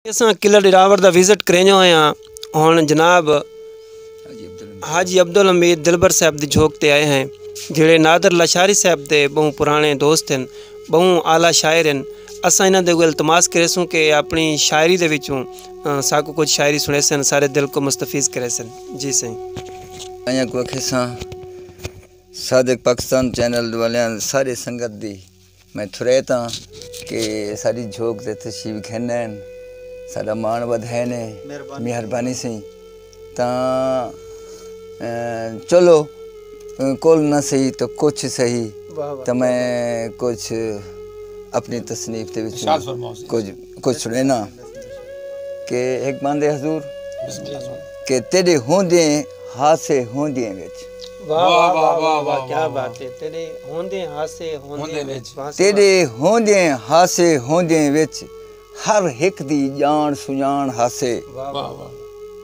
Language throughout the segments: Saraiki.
اساں قلعہ ڈراور دا وزٹ کرینجو ہیں ہاں ہن جناب حاجی عبدالحمید دلبر صاحب دی جھوک تے آئے ہیں جڑے نادر لاشاری صاحب دے بہوں پرانے دوست ہیں بہوں اعلی شاعر ہیں اساں انہاں دے گل تماس کرے سوں کہ اپنی شاعری دے وچوں ساکو کچھ شاعری سنے سن سارے دل کو مستفیض کرے سن جی سائیں ایاں کو اکھے ساں صادق پاکستان چینل والیاں سارے سنگت دی میں تھریت ہاں کہ ساڈی جھوک تے تشریف گھن آئے ہن ساڈا مان ودھائے نے مہربانی سی تاں چلو کل نہ سہی تو کچھ سہی تو میں کچھ اپنی تصنیف تے وچ کچھ کجھ سنڑینا کہ ہک باندے حضور کہ تیڈے ہوندے ہاسے ہوندے وچ واہ واہ واہ واہ واہ کیا بات ہے تیڈے ہوندے ہاسے ہوندے وچ تیڈے ہوندے ہاسے ہوندے وچ ہر ہک دی جان سنجان ہاسے واہ واہ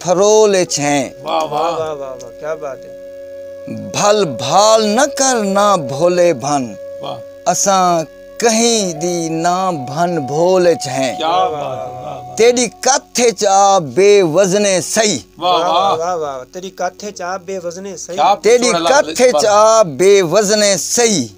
پھرول اچ ہیں بھل بھال نہ کر نہ بھولے بھن اساں کہیں دی نہ بھن بھول اچ ہیں تیڈی کتھ اچ آ بے وزنے سئی تیڈی کتھ اچ آ بے وزنے سئی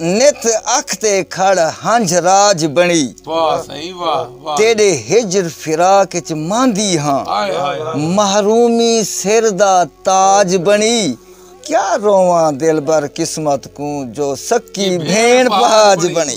نت اکھ تے کھڑ ہنجھ راج بنڑی۔ تیڈے ہجر فراق اچ ماندی ہاں۔ محرومی سر دا تاج بنڑی۔ کیا روواں دلبر قسمت کوں جو سکی بھینڑ پہاج بنڑی۔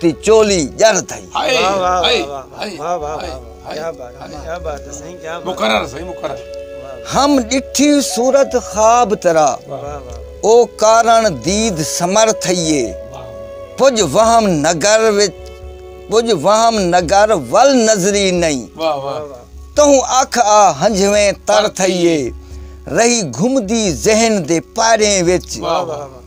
تی چولی جر تھئی ہم ڈٹھی صورت خواب ترا او کارن دید سمر تھئیے پج وہم نگر وچ پج وہم نگر ول نظری نہیں تہوں اکھ آ ہنجھویں تر تھئیے رہی گھمدی ذہن دے پاریں وچ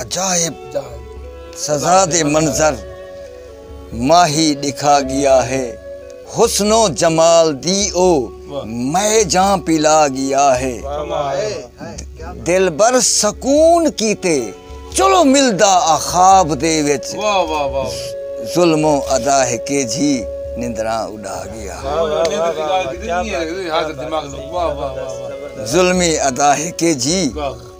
عجائب سزا دے منظر ماہی ݙکھا ڳیا ہے حسن و جمال دی او مئے جاں پلا ڳیا ہے دلبر سکون کیتے چلو ملدا آ خواب دے وچ ظلم و ادا ہے کے جھی نندراں اڈا ڳیا ظلمی ادا ہے کے جھی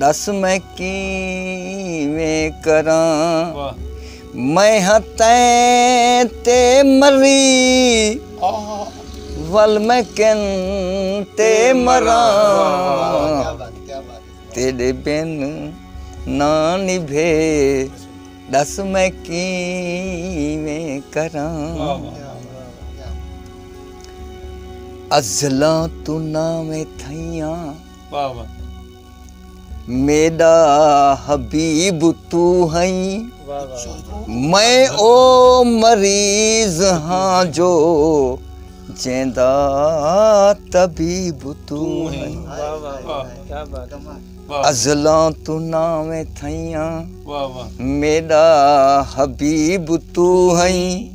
ݙس میں کیویں کراں میں ہاں تیں تے مری ول میں کن تے مراں تیڈے بن نہ نبھے ڈس میں کیویں کراں ازلاں تو نہ میں تھیاں واہ واہ۔ میݙا حبیب توں ہئیں میں او مریض ہاں جو جیندا طبیب توں ہئیں ازلاں توں ناویں تھئیاں میݙا حبیب توں ہئیں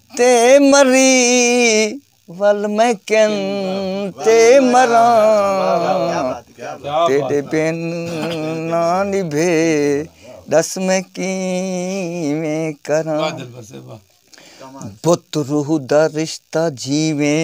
تے مری ول میں کن تے مراں تیڈے بن نہ نبھے دس میں کیویں کراں بت روح دا رشتہ جیویں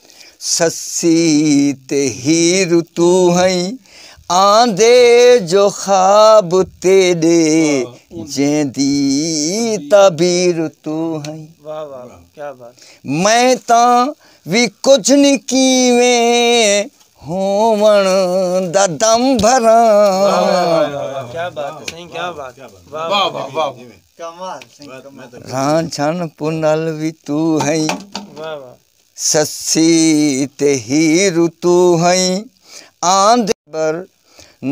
سسی تے ہیر تو ہئی آندے جو خواب تیڈے جیندی تعبیر تو ہئی میں تاں وی کچھ نہیں کیویں ہوون دا دم بھراں ران چھن پنل وی تو ہئی سسی تے ہیر توں ہئیں آندے بر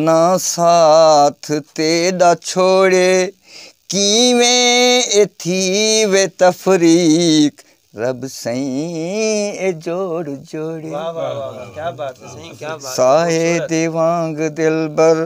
نہ ساتھ تیڈا چھوڑے کیویں اے تھی وے تفریق رب سئیں اے جوڑ جوڑے سائے دے وانگ دلبر